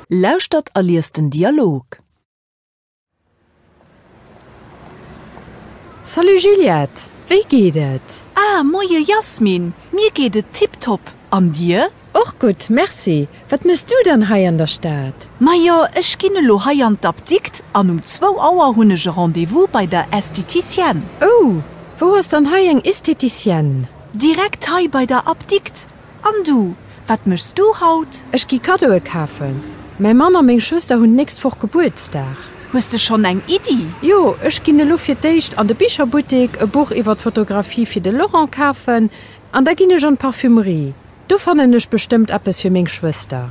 Lauschtert a liest den Dialog. Salut Juliette, wéi geet et? Ah, moie Jasmin, mir geet et tiptop, an dir? Och gutt, merci. Wat méchs du dann hei an der Stad? Majo, ech ginn elo hei an d'Apdikt an um zwou Auer hunn ech e Rendez-vous bei der Estheticienne. Oh, wou ass dann hei eng Estheticienne? Direkt hei bei der Apdikt. An du, wat méchs du haut? Ech gi Kaddoe kafen. Mäi Mann a meng Schwëster hunn d'nächst Woch Gebuertsdag. Hues de schonn eng Iddi? Jo, ech ginn elo fir d'éischt an de Bicherbuttek e Buch iwwer d'Fotografie fir de Laurent kafen. An da ginn ech an d'Parfümerie. Do fannen ech bestëmmt eppes fir meng Schwëster.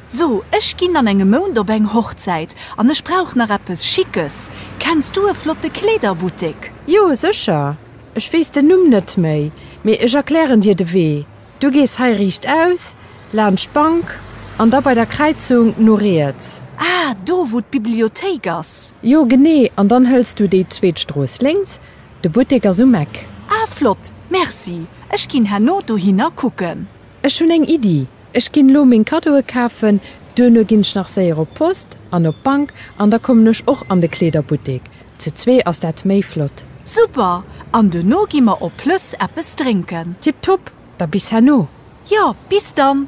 So, ech ginn an engem Mount op eng Hochzäit an ech brauch nach eppes Schickes. Kenns du e flotte Kleederbuttek? Jo, sécher. Ech weess den Numm net méi, mee ech erklären dir de Wee, Du gees hei riichtaus, laanscht d'Bank, an da bei der Kräizung no riets. Ah, do, wou d'Bibliothéik ass. Jo, genee. An dann hëls du déi zweet Strooss lénks, de Buttek ass um Eck. Ah, flott. Merci. Ech ginn herno dohinner kucken. Ech hunn eng Iddi, ech ginn elo meng Kaddoe kafen, duerno ginn ech nach séier op d'Post an op d'Bank an da kommen ech och an de Kleederbuttek. Zu zwee ass dat méi flott. Super! An duerno gi mer op Plëss eppes drénken. Tiptop, da bis herno. Jo, bis dann!